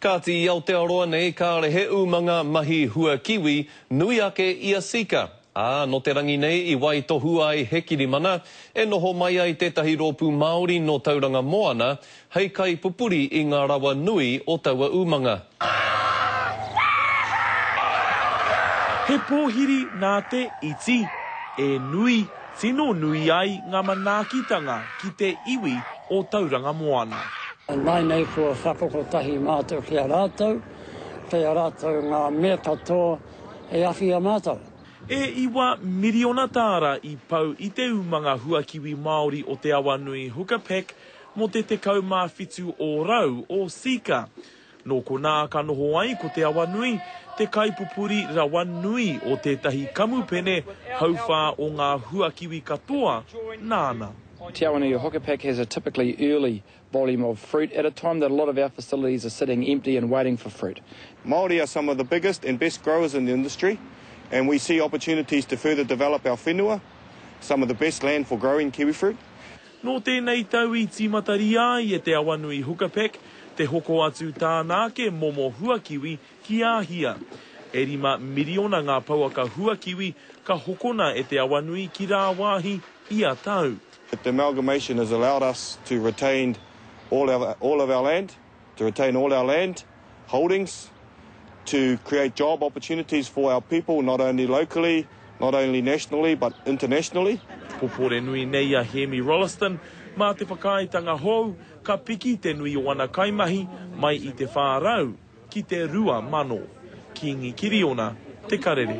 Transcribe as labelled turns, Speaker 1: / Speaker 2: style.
Speaker 1: Kāti i Aotearoa nei kāre he umanga mahi hua kiwi nui ake i a Sika, ā, nō te rangi nei i waitohu ai he kirimana e noho mai ai tētahi rōpū Māori nō Tauranga Moana hei kaipupuri i ngā rawa nui o taua umanga.
Speaker 2: He pōhiri nā te iti e nui. tino nui ai ngā manaakitanga ki te iwi o Tauranga Moana. Ināianei
Speaker 3: kua whakakotahi mātou ki a rātou, kei a rātou ngā mea katoa e awhia mātou. E iwa
Speaker 2: miriona tāra i pau i te umanga huakiwi Māori o Te Awanui Hooker Pack mō te 17 ōrau o Seeka. Nō konā ka noho ai ko Te Awanui te kaipupuri rawa nui o tētahi kamupene hauwhā o ngā huakiwi katoa nāna. Te Awanui
Speaker 4: Hokapak has a typically early volume of fruit at a time that a lot of our facilities are sitting empty and waiting for fruit. Māori are some of
Speaker 5: the biggest and best growers in the industry and we see opportunities to further develop our whenua, some of the best land for growing kiwifruit. Nō tēnei
Speaker 2: tau i tīmataria ai e Te Awanui Hukapeck te hoko atu tāna ake momo huakiwi ki Āhia. E rima miriona ngā pouaka huakiwi ka hokona e Te Awanui ki rāwāhi ia tau. The amalgamation
Speaker 5: has allowed us to retained all our all of our land, to retain all our land. Holdings to create job opportunities for our people, not only locally, not only nationally but internationally. Pupuri nui
Speaker 2: nei a Hēmi Rolleston, mā te whakaaetanga hou ka piki te nui o ana kaimahi mai i te 400 ki te 2,000. Kīngi Kiriona, Te Karere.